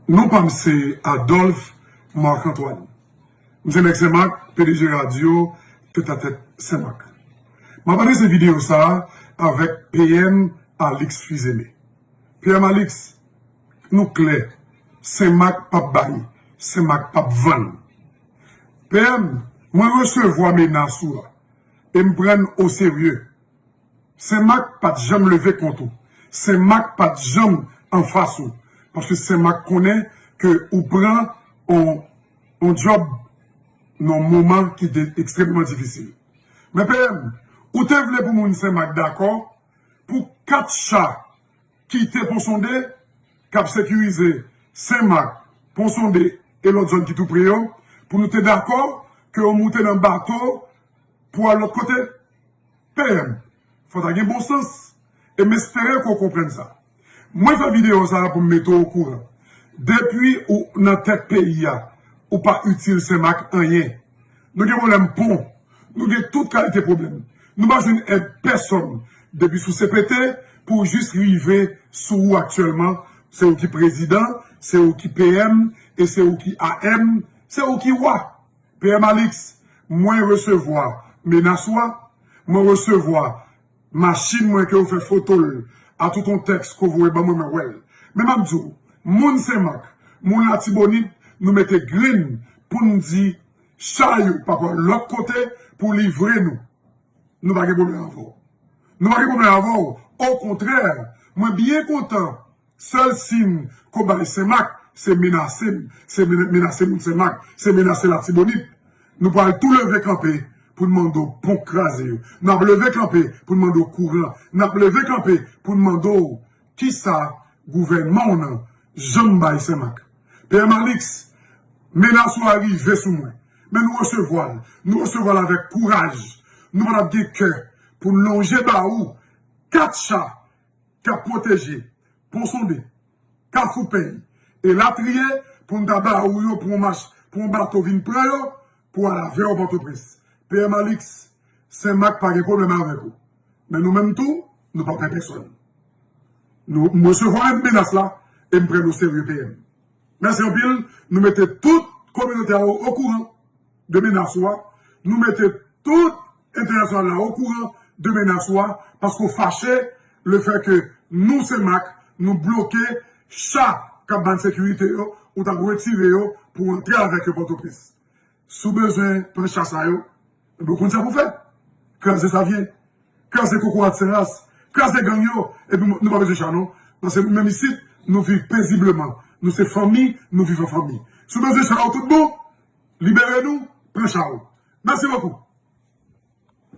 Non pa m se Adolphe Marc Antoine. M se nèg Senmak, pdg radyo Tèt a Tèt Senmak. M ap adrese videyo sa a avèk PM Alix Fils-Aimé. PM Alix, nou klè, Senmak pa p bay, Senmak pa p vann. PM, mwen resevwa menas ou a e m pran n oserye. Sen Mak pat janm leve kont ou. Sen Mak pat janm anfas ou. Paske Sen Mak konnen ke ou pran on djòb nan on moman ki te ekstrèmman difisil. Men PM, ou te vle pou moun Sen Mak dakò pou 4 cha ki te Ponsonde k ap sekirize Sen Mak, Ponsonde e lòt zòn ki tou pre yo, pou nou te dakò ke ou moute nan bato pou al lòt kote? PM, Fò ta gen bon sans, e m espere ke w konprann sa. Mwen fè videyo sa pou m mete w okouran. Depi ou nan tèt peyi a, ou pa itil Senmak anyen. Nou gen pwoblèm pon, nou gen tout kalite pwoblèm. Nou pa jwenn èd pèsòn, depi sou CPT pou jis rive sou ou aktyèlman. Se ou ki prezidan, se ou ki PM, e se ou ki AM, se ou ki wa. PM Alix, mwen resevwa menas ou a, mwen resevwa machin mwen ke ou fè foto l a tout on tèks ke ou voye ban mwen mwen wè l. Men m ap di w, moun Senmak, moun Latibonit nou mete grenn pou n di cha yo pa pran lòt kote pou livre nou. Nou pa gen pwoblèm avè w. Nou pa gen pwoblèm avè w. Okontrè, mwen byen kontan. Sèl si'n ko bay senmak se menase m se menase moun senmak se menase latibonit nou pral tou leve kanpe poun mande w pon kraze yo nap leve kanpe poun mande w kouran nap leve kanpe poun mande w kisa gouvènman w nan janm bay senmak PM Alix menas ou a rive sou mwen men nou resevwa l nou resevwa l avèk kouraj nou pa tap gen kè poun lonje ba ou 4 cha k ap pwoteje Pon Sonde, Kafou Pèy, elatriye, pou n ta ba ou yo pou yon mach, pou yon bato vin pran yo pou al avè w Pòtoprens. PM Alix, Sen Mak pa gen pwoblèm avèk ou. Men nou menm tou, nou pa pè pèsòn. M resevwa menas la e m pran l oserye PM. Mèsi anpil, nou mete tout kominote a okouran. de menas ou a, nou mete tout entènasyonal la okouran de menas ou a paske w fache le fè ke nou Senmak nou bloke cha k ap ba n sekirite yo, ou t ap retire yo pou w antre avèk yo Pòtoprens. Si w bezwen pran cha sa yo, enben w konn sa pou w fè, kraze Savyen, kraze kokorat Senras, kraze gang yo epi nou pa bezwen cha non paske nou menm isit nou viv pezibleman, nou se fanmi, nou viv an fanmi. Si w bezwen cha yo tout bon. Libere nou pran chal. Merci beaucoup.